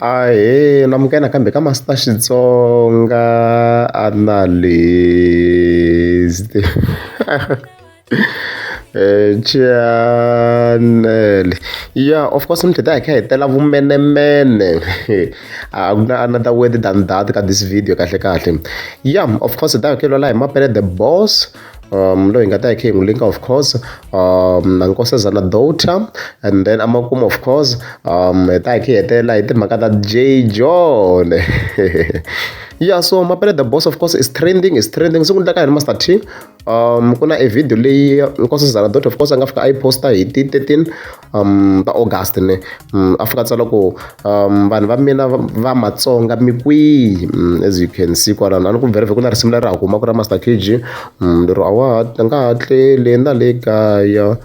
Ahee lamukela kambe ka Master Xitsonga Analyst Channel ya of course mi qheta hi kha hi tela vumenemene a ku na another word than that ka this video kahlekahle ya of course hi ta hi kha hi lwela hi mapele the boss. um loyi hi nga ta yi khe hi n'wi linka of course um na nkosazana daughter and then amakumu of course um hi ta hi khe hi hetelela hi timhaka ta j john yeah so mapele the boss of course is trending is trending siku ni ta ka hi ri master t um ku na e video leyi nkosazana daughter of course a nga fika a yi posta hi ti 13 um va august ni um, a fika tsala ku um vanhu va mina va matsonga mi kwihi um, as you can see kwalano a ni ku vereve ku na risimu leri ha huma ku ra master kg um lero a wa ha nga ha tleli na le kaya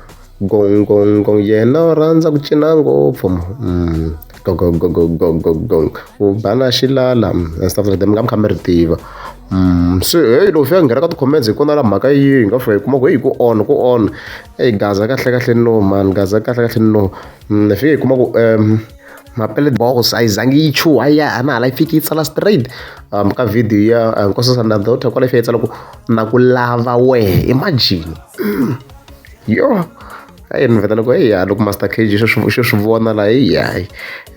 gongongong yena u rhandza ku cina ngopfu um gogogogogogogol u bana xilala mm, and stuff like that mi nga mi kha mi ri tiva Mm, se heyi loko fika nghena ka ti-comments hi kona la mhaka yihi hi nga fika hi kuma ku heyi ku on ku on eyi gaza kahle kahle no mani gaza kahle kahle no mm, hi fike hi kuma ku um mapele box a yi zangi yi chuha ya a na hala yi fiki yi tsala straight um ka video ya uh, nkosi sanda daughter kwala yi fika yi tsala ku na ku lava wehe imagine yo a yi ni vheta loko eya loko master cag xo swi xo swi vona la heyi hayi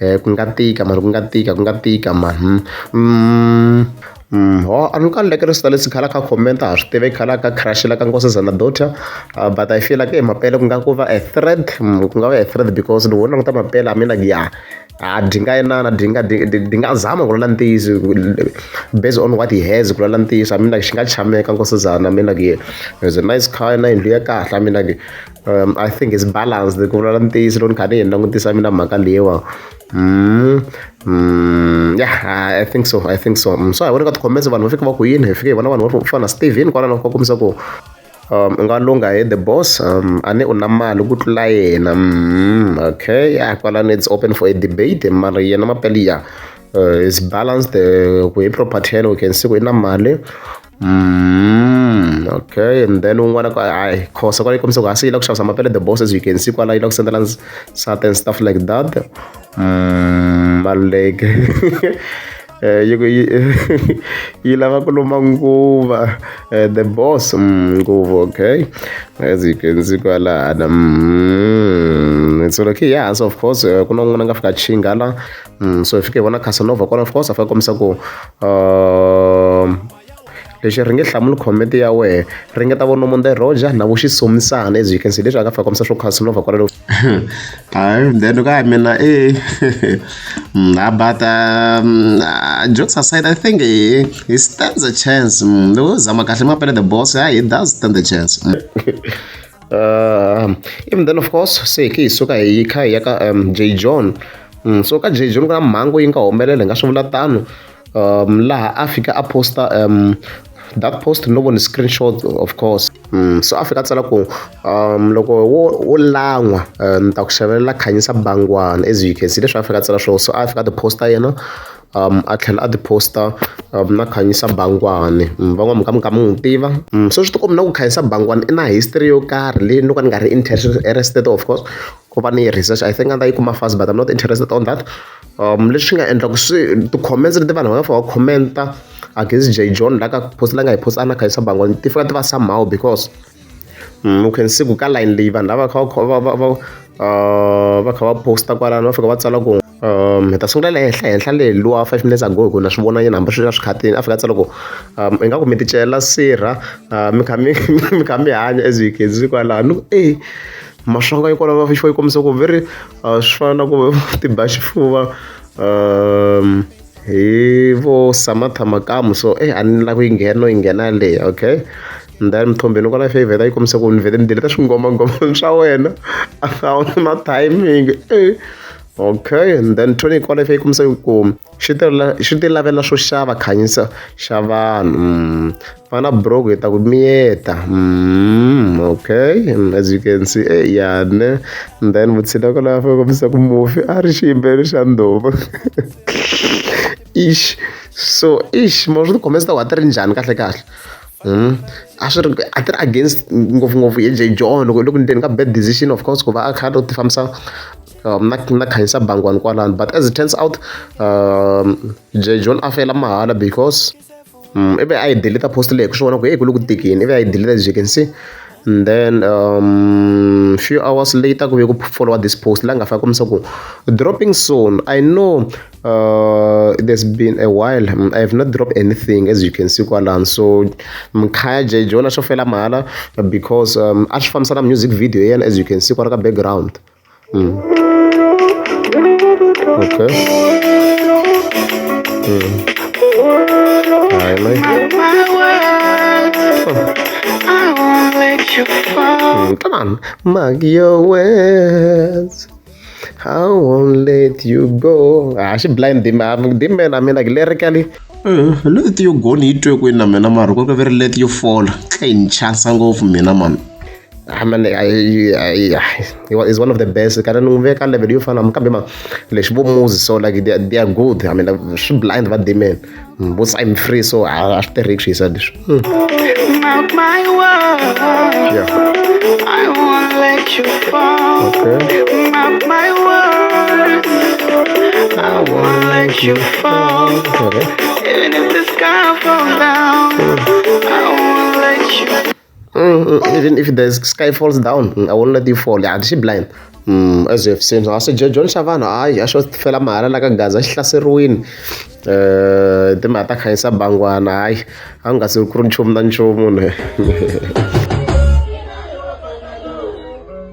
um ku nga tika mani ku nga tika ku nga tika mani um um ho a ni ka ni lekele sita lexi khala kha comment a ha swi tivi khala ka crush la ka nkosazana daughter but i feel like e mapele ku nga ku va a threat ku nga va a threat because loko wo languta mapele a mi like ya. ha dyi nga inana dyi nga dyi dyi dyi nga zama ku vula ntiyiso based on what he has ku vula ntiyiso I mean like xi nga chameka nkosazana I mean like he has a nice car na yindlu ya kahle I mean like um, I think it's balanced ku vula ntiyiso loko ni kha ni yi langutisa mina mhaka leyiwa mm, mm, yeah I think so I think so mm, so hi vona ka ti-comments vanhu va fika va ku yini hi fike hi vona vanhu va fana na Steven kwalano va kombisa ku u nga lungha he the boss a ni u na mali ku tlula yena okay ya kwalano it's open for a debate mara yena mapele ya is balanced ku hi property ya yena we can see ku i na mali okay and then un'wana ku hayi khosa kwale kombisa ku ha se yi la ku xavisa mapele the boss as you can see kwala yi la ku sendela nsati and stuff like that maluleke Eh, yi ku yi yi lava ku lomba nguva eh, the boss mm, nguva okay as you can see kwalana mm, it's okay yes of course eh, ku na un'wana nga fika chinga la mm, so hi fike hi vona casanova kwala of course a fika kombisa ku uh, Lexi ri nge hlamuli comment ya wena ringeta vo nomo the Roger na vo xisomisana as you can see leswi a nga fika kombisa swo Casanova kwalalo hayi then ka ya mina e na but um, uh, jokes aside i think he, he stands a chance mm, loko zama kahle mapele the boss yeah, he does stand a chance mm. uh, um, even then of course se ke hi suka hi kha hi ya ka um, j john mm, so ka j john ku na mhangu yi nga humelela hi nga swi vula tano um, laha a fika a posta um, that post no vona screenshot of course mm, so a fika a tsala ku um, loko wo, wo lan'wa um, ni ta ku xavelela khanyisa bangwana as you can see leswi a fika a tsala swona so a fika a ti posta yena um a tlhela a tiposta um na khanyisa bangwani mm, van'wana ka mi ka mi n'wi tiva mm, so swi tikombi na ku khanyisa bangwani i na history yo karhi leyi no ka ni nga ri interested of course ku va ni yi research i think a ta yi kuma fast but i'm not interested on that lexi nga endla ku swi ti-comments leti vanhu va nga fika va comment-a against Jay John la ka post la nga yi post-a na Khanyisa Bangwani ti fika ti va somehow because mm, u can see ku ka line leyi vanhu lava kha va va va va kha va posta kwalano va fika va tsala ku um hi ta sungula le henhla henhla le luwa five minutes ago hi ku na swi vona yena hambi swi ri swikhatini a fika a tsala ku um ingaku mi ticela sirha mi kha mi mi kha mi hanya as you can see kwalano e maswanga yi kwalano va fixo yi kombisa ku very a swi fana na ku ti ba xifuva um hi vo samatha makamu so e a ni lava ku yi nghena no yi nghena yaleyo okay then mthombeni kwala fe yi vheta yi kombisa ku ni vhete ni deleta swingomangoma swa wena a wu na timing e okay and then tony kwala fe yi kombisa ku xi ti xi ti lavela swo xava khanyisa xa vanhu mm. va na broko hi ta ku miyeta mm, okay mm, as you can see e yane then vutshila ko lava fa kombisa ku mufi a ri xiyimbelo xa ndhovu ish so ish ma swi tikhome swi ta ku a ti ri njhani kahle kahle Hmm? a swi ri a ti ri against ngopfungopfu hi j john loko loko ni teni ka bad decision of course ku va a kha a ti fambisa uh, mna mna khanyisa bangwani kwalani but as it turns out um, john a fela mahala because um, ivi a yi deleta post leyi ku swi vona ku eyi ku le ku tikini ivi a yi deleta as you can see and then um, few hours later ku ve ku followa this post la nga faka kombisa ku dropping soon i know uh, it has been a while mm, i have not dropped anything as you can see kwalani so mkhaya j jona xo fela mahala because um, a swi fambisana music video ya yena as you can see kwala ka background okay Come on, mark your words. I won't let you go. Ah, she blind the man. The man, I mean, like lyrically. Eh, let you go ni yi twe kwini na mina mara ku ri let you fall ka yi ni chasa ngopfu mina mani I mean, I, I, I, is one of the best kana ni n'wi veka level yo fana kambe ma lexi vo muzi so like they, they are good i mean swi blind va demon mm, vo sign free so a swi tirhiki swi yisa leswi hmm. Okay. Mm, mm, even if the sky falls down mm, i won't let you fall yeah she blind mm, as you have seen so ase john xavana hayi a xo fela mahala la ka gaza xi hlaseriwini um timhaka ta khanyisa bangwana hayi a nga se ku ri nchumu na nchumu ne